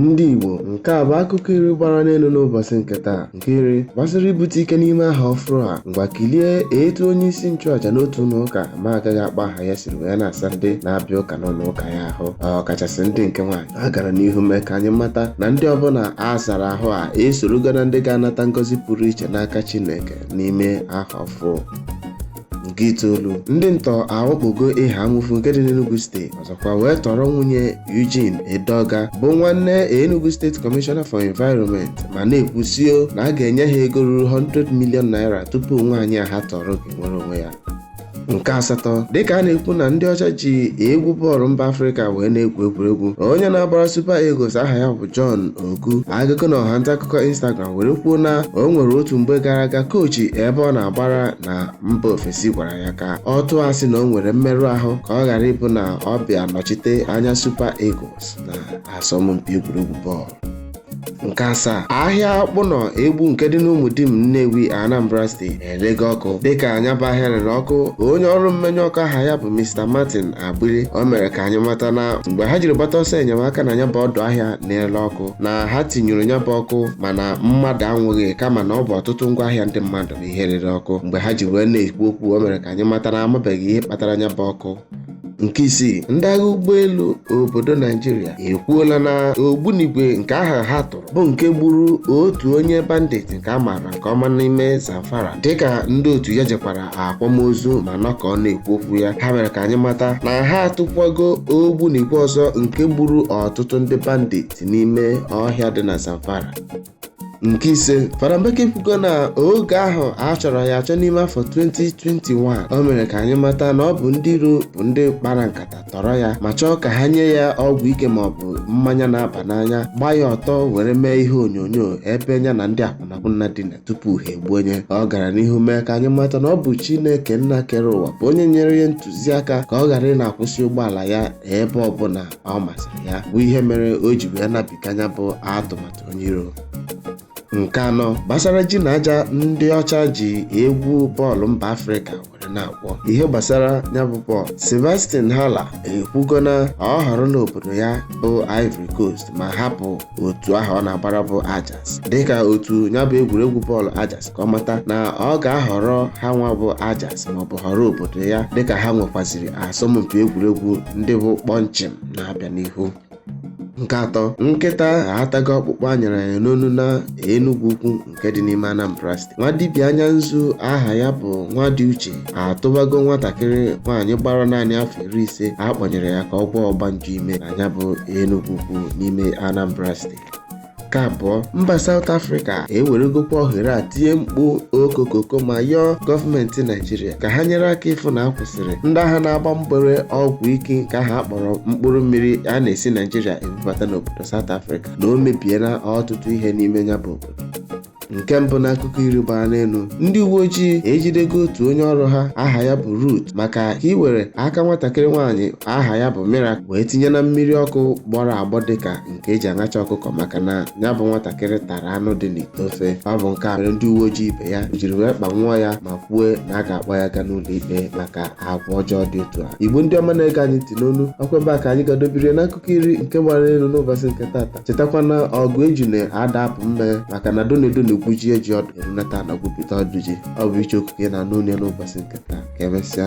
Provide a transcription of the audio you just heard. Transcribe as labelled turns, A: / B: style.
A: Ndị Igbo, nke a bụ akụkọ iri gbara n'elu n'ụbọchị nke taa nke iri gbasara ibute ike n'ime ahọ ọfụrụ a ngwa kilie etu onye isi nchụaja n'otu ụlọ ụka mụ agaghị akpa aha ya siri wee na-asa ndị na-abịa ụka n'ụlọ ụka ya ahụ ọkachasị ndị nke nwaanyị a gara n'ihu mee ka anyị mata na ndị ọbụla a sara ahụ a esorogo na ndị ga-anata ngọzi pụrụ iche n'aka Chineke n'ime ahọ ọfụ nke itoolu ndị ntọ awakpogo Eha-Amufu nke dị n'Enugu steeti ọzọkwa wee tọrọ nwunye Eugene Edeoga bụ nwanne Enugu State Commissioner for Environment ma na-ekwusio na a ga-enye ha ego ruru 100 million naira tupu nwaanyị a ha tọrọ ga-enwere onwe ya nke asatọ dịka a na-ekwu na ndị ọcha ji egwu bọọlụ mba afrịka wee na-egwu egwuregwu onye na-agbara Super Eagles aha ya bụ John Ogu agago n'ọha nta akụkọ Instagram were kwuo na o nwere otu mgbe gara aga kochi ebe ọ na-agbara na mba ofesi gwara ya ka ọ tụọ asị na o nwere mmerụ ahụ ka ọ ghara ịbụ na ọ bịa nọchite anya Super Eagles na asọmpi egwuregwu bọọlụ nke asaa ahịa Ọkpụnọ Egbu nke dị n'Umudim Nnewi Anambra steeti elego ọkụ dịka nya bụ ahịa rere ọkụ onye ọrụ mmenyụ ọkụ aha ya bụ Mr Martin Agbili o mere ka anyị mata na mgbe ha jiri gbata ọsọ enyemaka na nya bụ ọdụ ahịa na-ele ọkụ na ha tinyụrụ nya bụ ọkụ mana mmadụ anwụghị kama na ọ bụ ọtụtụ ngwa ahịa ndị mmadụ bụ ihe rere ọkụ mgbe ha ji wee na-ekwu okwu o mere ka anyị mata na amabeghị ihe kpatara nya bụ ọkụ nke isii ndị agha ụgbọelu obodo naijiria ekwuola na ogbunigwe nke ahụ ha tụrụ bụ nke gburu otu onye bandit nke a maara nke ọma n'ime zamfara dịka ndị otu ya jekwara akwamozu ma nọkọọ na-ekwu okwu ya ha mere ka anyị mata na ha atụkwago ogbunigwe ọzọ nke gburu ọtụtụ ndị bandit n'ime ọhịa dị na zamfara nke ise fada mbaka ekwugo na oge ahụ a chọrọ ya achọ n'ime afọ 2021 o mere ka anyị mata na ọ bụ ndị iro bụ ndị kpara nkata tọrọ ya ma chọọ ka ha nye ya ọgwụ ike ma ọ bụ mmanya na-aba n'anya gbaa ya ọtọ were mee ihe onyonyo ebe nya na ndị akwụnakwụna dina tupu ha egbuo nya ọ gara n'ihu mee ka anyị mata na ọ bụ chineke nna kere ụwa bụ onye nyere ya ntụziaka ka ọ ghara ị na-akwụsị ụgbọala ya ebe ọbụla ọ masịrị ya bụ ihe mere o ji wee nabiga nya bụ atụmatụ onye iro nke anọ gbasara ji na aja ndị ọcha ji egwu bọọlụ mba afrịka were na-agwọ ihe gbasara nya bụ bọọlụ Sebastian Haller ekwugo na ọ họrọla obodo ya bụ Ivory Coast ma hapụ otu ahụ ọ na-agbara bụ Ajax dịka otu nya bụ egwuregwu bọọlụ Ajax ka ọ mata na ọ ga-ahọrọ ha nwa bụ Ajax maọbụ họrọ obodo ya dịka ha nwekwaziri asọmpi egwuregwu ndị bụ kpọnchịm na-abịa n'ihu nke atọ nkịta atago ọkpụkpụ a nyara ya n'onu na Enugwu Ukwu nke dị n'ime Anambra steeti nwa dibịa anya nzu aha ya bụ Nwadiuche atụbago nwatakịrị nwaanyị gbara naanị afọ iri na ise a kpọnyere ya ka ọ gwọọ ọgbanje ime na ya bụ Enugwu Ukwu n'ime Anambra steeti nke abụọ mba South Africa eweregokwa ohere a tie mkpu okokoko ma yọọ gọọmenti Naijiria ka ha nyere aka ịfụ na a kwụsịrị ndị aha na-agba mgbere ọgwụ ike nke aha a kpọrọ mkpụrụ mmiri a na-esi Naijiria ebubata n'obodo South Africa na o mebiela ọtụtụ ihe n'ime ya bụ obodo nke mbụ n'akụkọ iri gbara n'elu ndị uwe ojii ejidego otu onye ọrụ ha aha ya bụ Ruth maka ka iwere aka nwatakịrị nwaanyị aha ya bụ Miracle wee tinye na mmiri ọkụ gbọrọ agbọ dịka nke e ji aṅacha ọkụkọ maka na ya bụ nwatakịrị tara anụ dị n'ite ofe ọ bụ nke a mere ndị uwe ojii ibe ya jiri wee kpanwụọ ya ma kwue na a ga-akpọ ya gaa n'ụlọ ikpe maka agwa ọjọọ dị otu a Igbo ndị ọma na-ege anyị ntị n'onu ọkwa ebe a ka anyị ga-adọbiri n'akụkọ iri nke gbara n'elu n'ụbọchị nke tata chetakwa na ọgụ ejuna ada apụ mme maka na donedo na-egwujie ji ọdụ erunata ana gwupụta ọdụ ji ọ bụ Ichie Okwu ka ị na-anụ onu ya n'ụbọchị nke taa ka emesịa